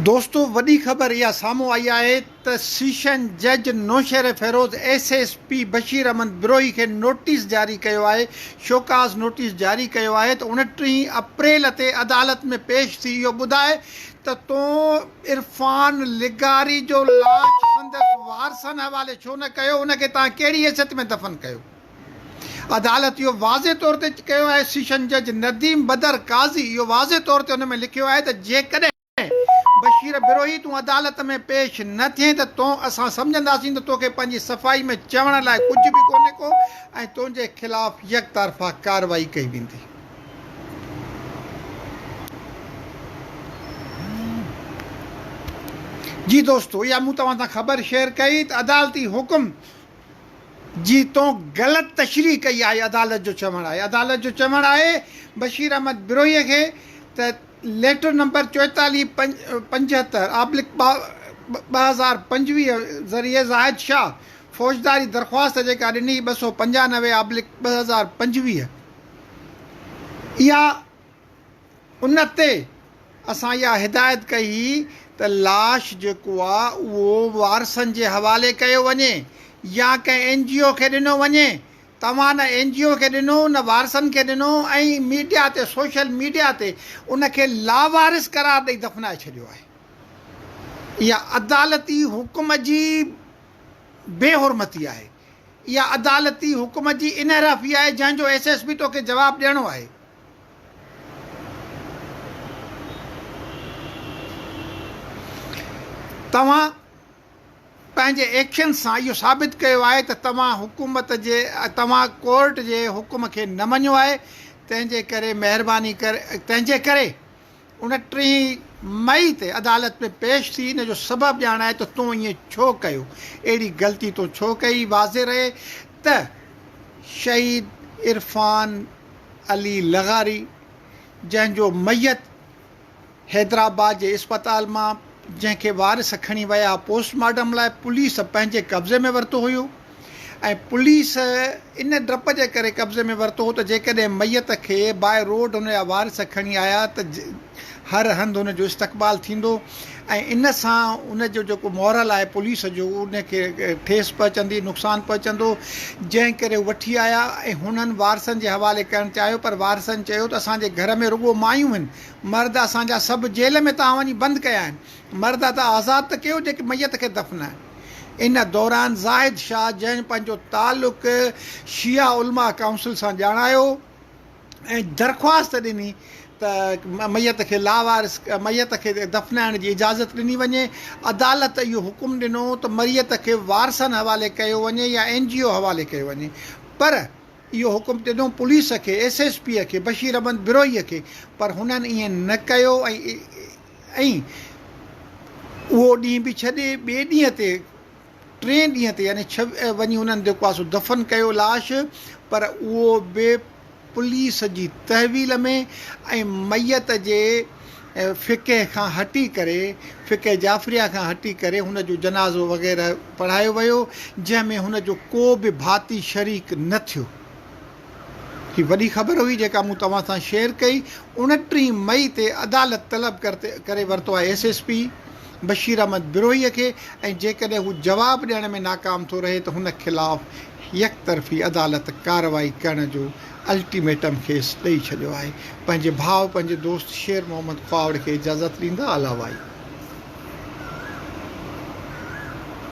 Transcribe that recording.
دوستو وڏي خبر اها سامهون آئي آهي ته سيشن جج Naushahro Feroze S S P Bashir Ahmed Brohi کي نوٽيس جاري ڪيو آهي شوڪاز نوٽيس جاري ڪيو آهي ته اڻٽيهين اپريل تي عدالت ۾ پيش ٿي اهو ٻڌاء ته تون عرفان لغاري جو لاش سندس وارثن حوالي ڇو نه ڪيو ان کي تان ڪهڙي حيثيت ۾ دفن ڪيو. عدالت اهو واضح طور تي ڪيو آهي، سيشن جج نديم بدر قاضي اهو واضح طور تي ان ۾ لکيو آهي ته جيڪڏهن بشير بروهي تون عدالت ۾ پيش نه ٿئين ته تو اسان سمجهنداسين ته توکي پنهنجي صفائي ۾ چوڻ لاء ڪجهه به ڪونهي ڪو ۽ تنهنجي خلاف يڪطرفا ڪارروائي ڪئي ويندي. جي دوستو اها مون توهان سان خبر شيئر ڪئي ته عدالتي حڪم. جي تو غلط تشريح ڪئي آهي عدالت جو چوڻ آهي عدالت جو چوڻ آهي بشير احمد بروهي کي ته ليٽر نمبر چوئيتاليهه پنجهتر آبلڪ ٻه ٻه هزار پنجويهه ذريعي زاهد شاهه فوجداري درخواست جيڪا ڏني ٻه سؤ پنجانوي آبلڪ ٻه هزار پنجويهه اها ان تي اسان اها هدايت ڪئي هئي ته لاش جيڪو آ اهو وارثن جي حوالي ڪيو وڃي يا ڪنهن اين جي او کي ڏنو وڃي. توهان نه اين جي او کي ڏنو نه وارثن کي ڏنو ۽ ميڊيا تي سوشل ميڊيا تي ان کي لاوارث قرار ڏئي دفنائي ڇڏيو آهي. اها عدالتي حڪم جي بي حرمتي آهي. اها عدالتي حڪم جي انحرافي آهي جنهن جو ايس ايس پي توکي جواب ڏيڻو آهي. توهان پنهنجي ايڪشنز سان اهو ثابت ڪيو آهي ته توهان حڪومت جي توهان ڪورٽ جي حڪم کي نه مڃيو آهي تنهنجي ڪري مهرباني ڪري تنهنجي ڪري انٽيهين مئي تي عدالت ۾ پيش ٿي ان جو سبب ڄاڻائي ته تو ائين ڇو ڪيو؟ اهڙي غلطي تو ڇو ڪئي؟ واضح رهي ته شهيد عرفان علي لغاري جنهن جو ميت حيدرآباد جي اسپتال مان جنهن کي وارث کڻي ويا پوسٽ مارٽم لاء پوليس پنهنجي قبضي ۾ ورتو هيو، ۽ پوليس ان ڊپ جي ڪري قبضي ۾ ورتو هو ته جيڪڏهن ميت کي باء روڊ هن جا وارث کڻي آيا ته هر هنڌ هن جو استقبال ٿيندو ۽ ان سان ان جو جيڪو مورل آهي پوليس جو ان کي ٺيس پهچندي نقصان پهچندو جنهن ڪري هو وٺي آيا ۽ هنن وارثن جي حوالي ڪرڻ چاهيو پر وارثن چيو ته اسان جي گهر ۾ رڳو مايون هن مرد اسان جا سڀ جيل ۾ تان وڃي بند ڪيا آهن مرد ادا آزاد ته ڪيو جيڪي ميت کي دفن آهن ان دوران زاهد شاهه جنهن پنهنجو تعلق شيعه علماء ڪائونسل سان ڄاڻايو ۽ درخواست ڏني ته ميت کي لاوارث ميت کي دفنائڻ جي اجازت ڏني وڃي عدالت اهو حڪم ڏنو ته مريت کي وارثن حوالي ڪيو وڃي يا اين جي او حوالي ڪيو وڃي پر اهو حڪم ڏنو پوليس کي ايس ايس پي کي بشير احمد بروهي کي پر هنن ائين نه ڪيو ۽ ۽ اهو ڏينهن به ڇڏي ٻئي ڏينهن تي ٽئين ڏينهن تي يعني ڇ وڃي انهن جيڪو آهي سو دفن ڪيو لاش پر اهو به پوليس جي تحويل ۾ ۽ ميت جي فقه کان هٽي ڪري فقه جعفريه کان هٽي ڪري هن جو جنازو وغيره پڙهايو ويو جنهن ۾ هن جو ڪو به ڀاتي شريڪ نه ٿيو. هي وڏي خبر هئي جيڪا مون توهان سان شيئر ڪئي، اوڻٽيهين مئي تي عدالت طلب ڪري ورتو آهي S S P Bashir Ahmed Brohi کي ۽ جيڪڏهن هو جواب ڏيڻ ۾ ناڪام ٿو رهي ته هن خلاف يڪ طرفي عدالت ڪارروائي ڪرڻ جو الٽيميٽم کيس ڏئي ڇڏيو آهي پنهنجي ڀاء پنهنجي دوست شير محمد خواوڙ کي اجازت ڏيندا علاوائي